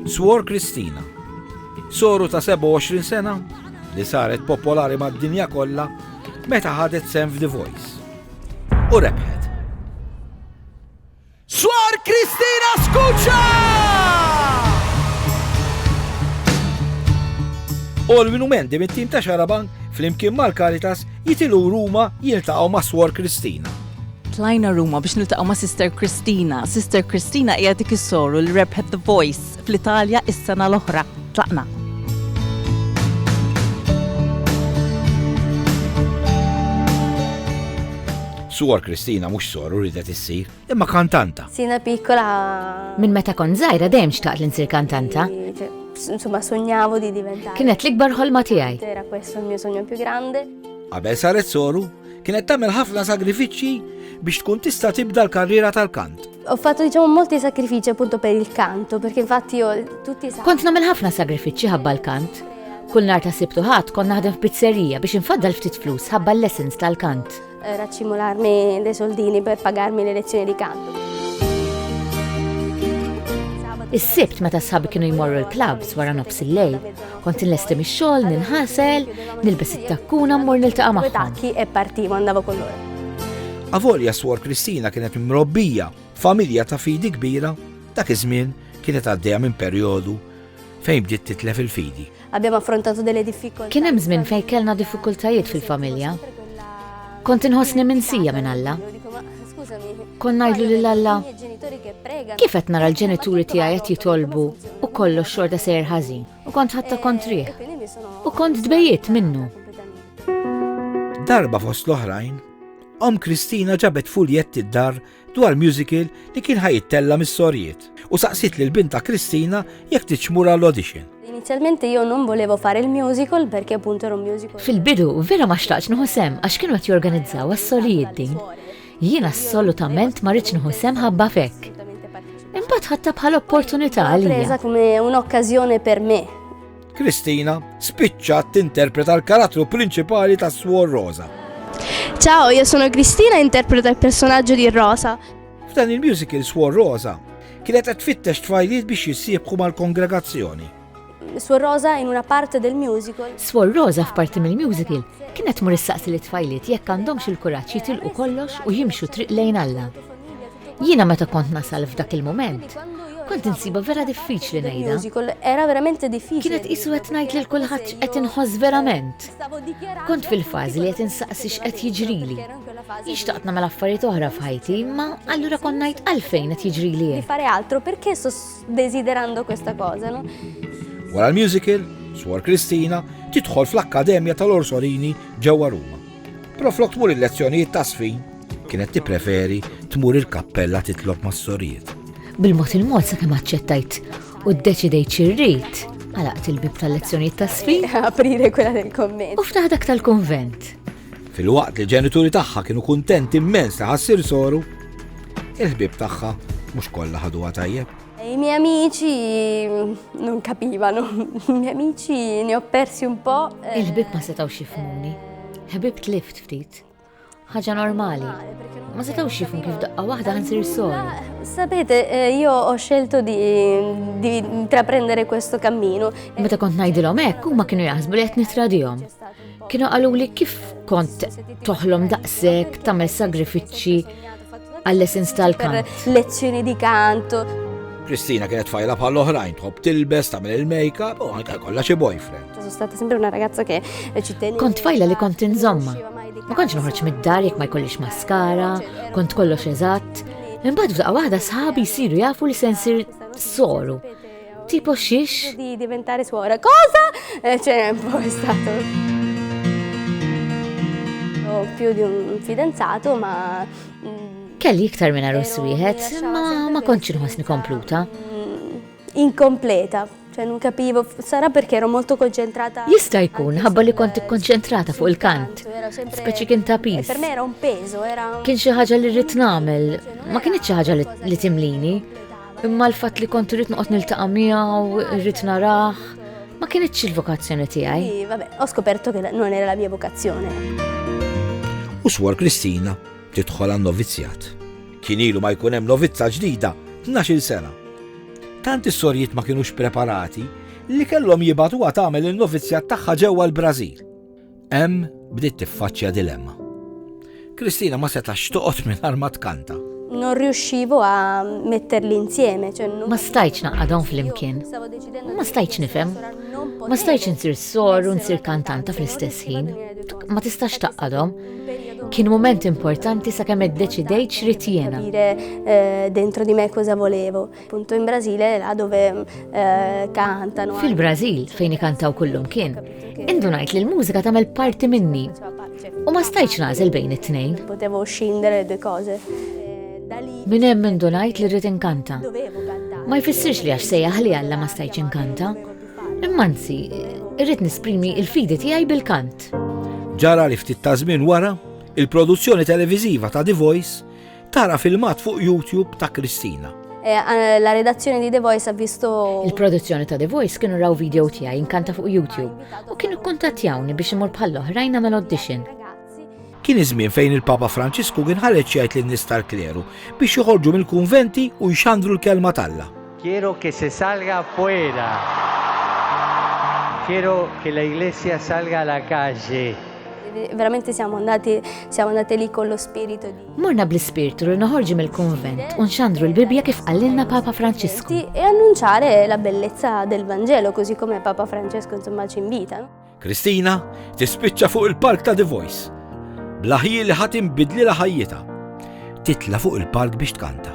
Swor Kristina, soru ta' 27 sena li saret popolari mad-dinja kollha meta ħadet sem f'The Voice. U rebħet. Swar Kristina Skuċa! U l-minumenti mit-tim ta' Xaraban fl-imkien mal-Karitas jitilu Ruma jiltaqgħu ma' Swar Kristina. Tlajna Ruma biex niltaqgħu ma' Sister Christina. Sister Christina hija dik is-soru li rebħet The Voice fl-Italja is-sena l-oħra. Tlaqna. Suor Kristina mhux soru ridet issir, imma kantanta. Sina piccola. Minn meta kont żgħira dejjem xtaqt li nsir kantanta. Insomma, sognavo di diventare. Kienet l-ikbar ħolma tiegħi. Era questo il mio sogno più grande. Qabel saret soru, Kienet tagħmel ħafna sagrifiċċji biex tkun tista' tibda l-karriera tal-kant. Ho fatto diciamo molti sacrifici appunto per il canto, perché infatti io tutti i Kont nagħmel ħafna sagrifiċċji ħabba l-kant. Kull nar ta' sibtu ħadd kont naħdem f'pizzerija biex infaddal ftit flus ħabba l-lessons tal-kant. Eh, raċċimolarmi dei soldini per pagarmi le lezioni di canto. Is-sibt meta sħabi kienu jmorru l-klabs wara nofs il-lejl, Kont inlesti mix-xogħol, ninħasel, nilbes it-takkuna mmur niltaqa' magħhom. E Avolja swor Kristina kienet mrobbija familja ta' fidi kbira, dak iż-żmien kienet għaddejja minn perjodu fejn bdiet titlef il-fidi. Abbiamo affrontato delle difficoltà. Kien hemm żmien fejn kellna diffikultajiet fil-familja. Kont inħossni minsija minn Alla. Kon ngħidlu lil Alla, kif qed nara l-ġenituri tiegħi qed jitolbu u kollox xorta sejr ħażin u kont ħatta kontrih u kont tbejjiet minnu. Darba fost l-oħrajn, om Kristina ġabet fuljetti d-dar dwar musical li kien ħajittella mis-sorjiet. u saqsiet lil bintha Kristina jekk tridx tmur għall-audition. Inizjalment io non volevo fare il musical perché appunto era un musical. Fil-bidu vera ma xtaqtx nieħu sem għax kienu qed jorganizzaw għas-solijiet din. Jien assolutament ma rridx nieħu sem ħabba fekk. Imbagħad ħadta bħal opportunità għalija. come un'occasione per me. Kristina spiċċat tinterpreta l-karattru prinċipali ta' Suor Rosa. Ciao, io sono Cristina e interpreto il personaggio di Rosa. F'dan il-musical Swor Rosa kienet qed tfittex tfajliet biex jissiebħu mal-kongregazzjoni. Swor Rosa in una parte del musical. Swor Rosa f'parti mill-musical kienet mur issaqsi li tfajliet jekk għandhomx il-kuraġġ jitilqu kollox u jimxu triq lejn Alla. Jiena meta kont nasal f'dak il-moment, kont insiba vera diffiċli ngħidha. Era verament diffiċli. Kienet isu qed ngħid lil kulħadd qed inħoss verament. Kont fil-fażi li qed insaqsi x'qed jiġrili. Jien xtaqt nagħmel affarijiet oħra f'ħajti, ma allura kont ngħid għalfejn qed jiġrili. Di fare altro perché sto desiderando questa cosa, no? Wara l-musical, Swar Kristina tidħol fl-Akkademja tal-Orsolini ġewwa Ruma. Però flok tmur il-lezzjonijiet ta' sfin, kienet tippreferi tmur il-kappella titlob mas-sorijiet. Bil-mod il-mod sa kemm aċċettajt u ddeċidejt xirrit, għalaqt il-bib tal-lezzjonijiet ta' sfin. Aprire kwella del-komment. U ftaħdak tal-konvent. Filwaqt li l-ġenituri tagħha kienu kuntenti immens li ħa ssir soru, il-ħbieb tagħha mhux kollha ħaduha tajjeb. I miei amici non capivano, i miei amici ne ho persi un po'. Eh. Il-ħbib ma setgħux jifhmuni. Ħbib tlift ftit. Ħaġa normali. Ma setgħux jifhmu kif daqqa waħda ħansir sol. Sapete, eh, io ho scelto di, di intraprendere questo cammino. Meta kont ngħidilhom hekk, huma kienu jaħsbu li qed nitradihom. Kienu qaluli kif kont toħlom daqsek tagħmel sagrifiċċji għall-essens tal-kant. Lezzjoni di kanto. Kristina kienet fajla bħal oħrajn tħobb tilbes tagħmel il-makeup u anke kollha xi boyfriend. Stata sempre una ragazza che ci teneva. Kont fajla li kont inżomma. Ma kontx noħroġ mid-dar jekk ma jkollix maskara, kont kollox eżatt. Imbagħad f'daqqa waħda sħabi jsiru jafu li se nsir soru. Tipo xiex? Di diventare suora. Cosa? Eh, c'è un po' stato. Ho più di un fidanzato, ma... Mm, Kelli iktar minn arus wieħed, ma ma kontx inħossni kompluta. Mm, inkompleta, ċe non capivo, sarà perché ero molto concentrata. Jista jkun, ħabba li kont ikkonċentrata fuq il-kant. Speċi kien ta' pis. Per me era un peso, era. Kien xi ħaġa li rrid nagħmel, ma kienx xi ħaġa li timlini. Imma l-fatt li kont irrid noqgħod niltaqa' miegħu, irrid narah, ma kienitx il-vokazzjoni tiegħi. Vabbè, ho scoperto che non era la mia vocazione. U swar Kristina tidħol għan novizzjat. Kien ilu ma jkun hemm novizza ġdida 12 sena. Tant is-sorjiet ma kienux preparati li kellhom jibatu għat tagħmel il-novizzjat tagħha ġewwa l-Brażil. Em bdiet tiffaċċja dilemma. Kristina ma setax toqgħod mingħajr ma tkanta. Non riuscivo a metterli insieme, cioè non... Ma stajċ naqadhom fl-imkien. Ma stajċ nifhem. Ma stajċ nsir sor u nsir kantanta fl-istess ħin. Ma tistax taqadhom. Kien moment importanti sakemm iddeċidejt x'rid jiena. Eh, dentro di me cosa volevo. Punto in Brasile là dove eh, cantano. Fil-Brażil fejn ikantaw kullum kien, indunajt li l-mużika tagħmel parti minni. U ma stajtx nagħżel bejn it-tnejn. Potevo scindere due cose. Min hemm indunajt li rrid inkanta. Ma jfissirx li għax sejjaħ li Alla ma stajtx inkanta. Imma nsi, irrid nisprimi il-fidi tiegħi bil-kant. Ġara li ftit ta' żmien wara, il-produzzjoni televiżiva ta' The Voice Tara filmat fuq YouTube ta' Kristina. Eh, eh, la redazzjoni di The Voice ha visto... Il-produzzjoni ta' The Voice kienu raw video tiegħi inkanta fuq YouTube u kienu kontattjawni biex imur bħal oħrajn għamel audition. Kien iż-żmien fejn il-Papa Franċisku kien ħareġ jgħid lin nies tal-kleru biex joħorġu mill-kunventi u jxandru l-kelma t'Alla. Quiero che se salga fuera. Quiero che la iglesia salga alla calle. Veramente siamo andati, siamo andati lì con lo spirito di... Morna bl-ispirtu li noħorġu mill-kunvent u nxandru l-Bibbja kif qallilna Papa Franċisku. E annunciare la bellezza del Vangelo così come Papa Francesco insomma ci invita. Kristina tispiċċa fuq il-palk ta' The Voice. Blaħi li ħadd inbidli la ħajjita. Titla fuq il-palk biex tkanta.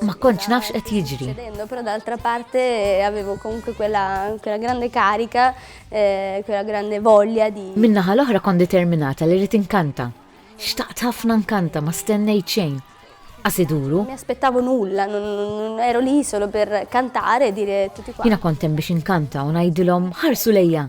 Ma kontx nafx qed jiġri. Però d'altra parte avevo comunque quella, quella grande carica, eh, quella grande voglia di. Min-naħa l-oħra kont determinata li rrid inkanta. Xtaqt ħafna nkanta, ma stennejt xejn. Qas iduru. Mi aspettavo nulla, ero lì solo per cantare e dire tutti quanti. Jiena kont hemm biex inkanta u ngħidilhom ħarsu lejja.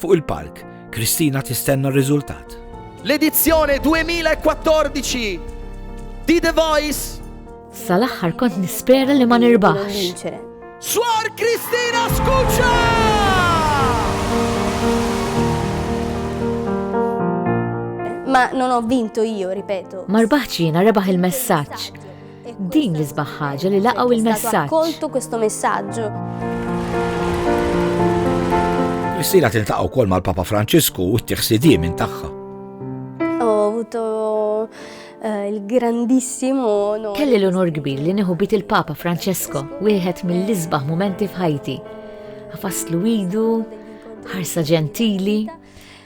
Fuq il-palk, Kristina tistenna r-riżultat. L-edizzjoni 2014 di The Voice. Sal-aħħar kont nispera li ma nirbaħx. Swar Kristina Skuċa! Ma non ho vinto io, ripeto. Ma rbaħx jiena rebaħ il-messaġġ. Din l-isbaħ ħaġa li laqgħu il-messaġġ. Koltu questo messaġġu. Is-sira tiltaqgħu wkoll mal-Papa Franċisku u t-tiħsidie minn tagħha. Eh, il-grandissimo onor. Kelli l-onor kbir li nieħu bit il-Papa Francesco, wieħed mill-isbaħ momenti f'ħajti. Għafaslu idu, ħarsa ġentili,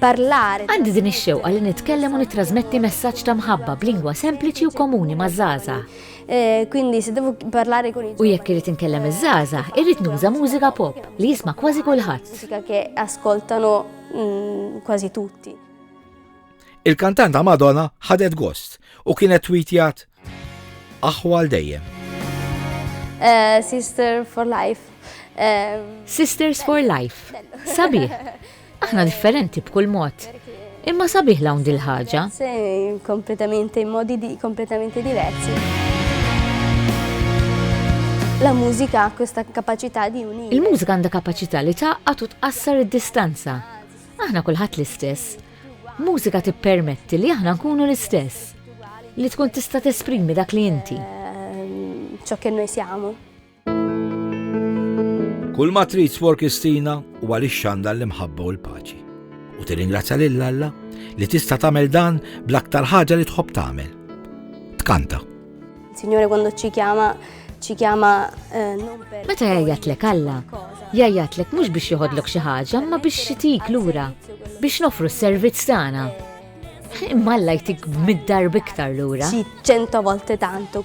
parlare. Għandi din ix-xewqa li nitkellem u nittrasmetti messaġġ ta' mħabba b'lingwa sempliċi u komuni ma' żaża. Eh, quindi se devo parlare con il U jekk irid inkellem iż-żaża, irrid nuża mużika pop li jisma' kważi kulħadd. Mużika che ascoltano mm, quasi tutti. Il-kantanta Madonna ħadet gost u kienet tweetjat Aħħu għal dejjem. Eh, sister for life. Eh, Sisters for life. Sabiħ. Aħna differenti b'kull mod. Imma sabiħ lawn dil-ħaġa. Kompletamente in modi di, kompletamente diversi. La mużika kusta kapacità di unire. Il-mużika għandha kapaċità li taqqat u tqassar id-distanza. Aħna kulħadd l-istess. Mużika tippermetti li aħna nkunu l-istess, li tkun tista' tesprimi dak li inti. Ciò che noi siamo. Kull ma trid swor Kristina u għaliex xanda l-imħabba u l-paċi. U tirringrazzja lil Alla li tista' tagħmel dan bl-aktar ħaġa li tħobb tagħmel. Tkanta. Signore quando ci chiama ci chiama eh, non per Meta jgħajatlek Alla, jgħajatlek mhux biex joħodlok xi ħaġa, ma biex jitik lura, biex nofru s-servizz tagħna. Imma Alla jtik mid-darb iktar lura. Ci cento volte tanto.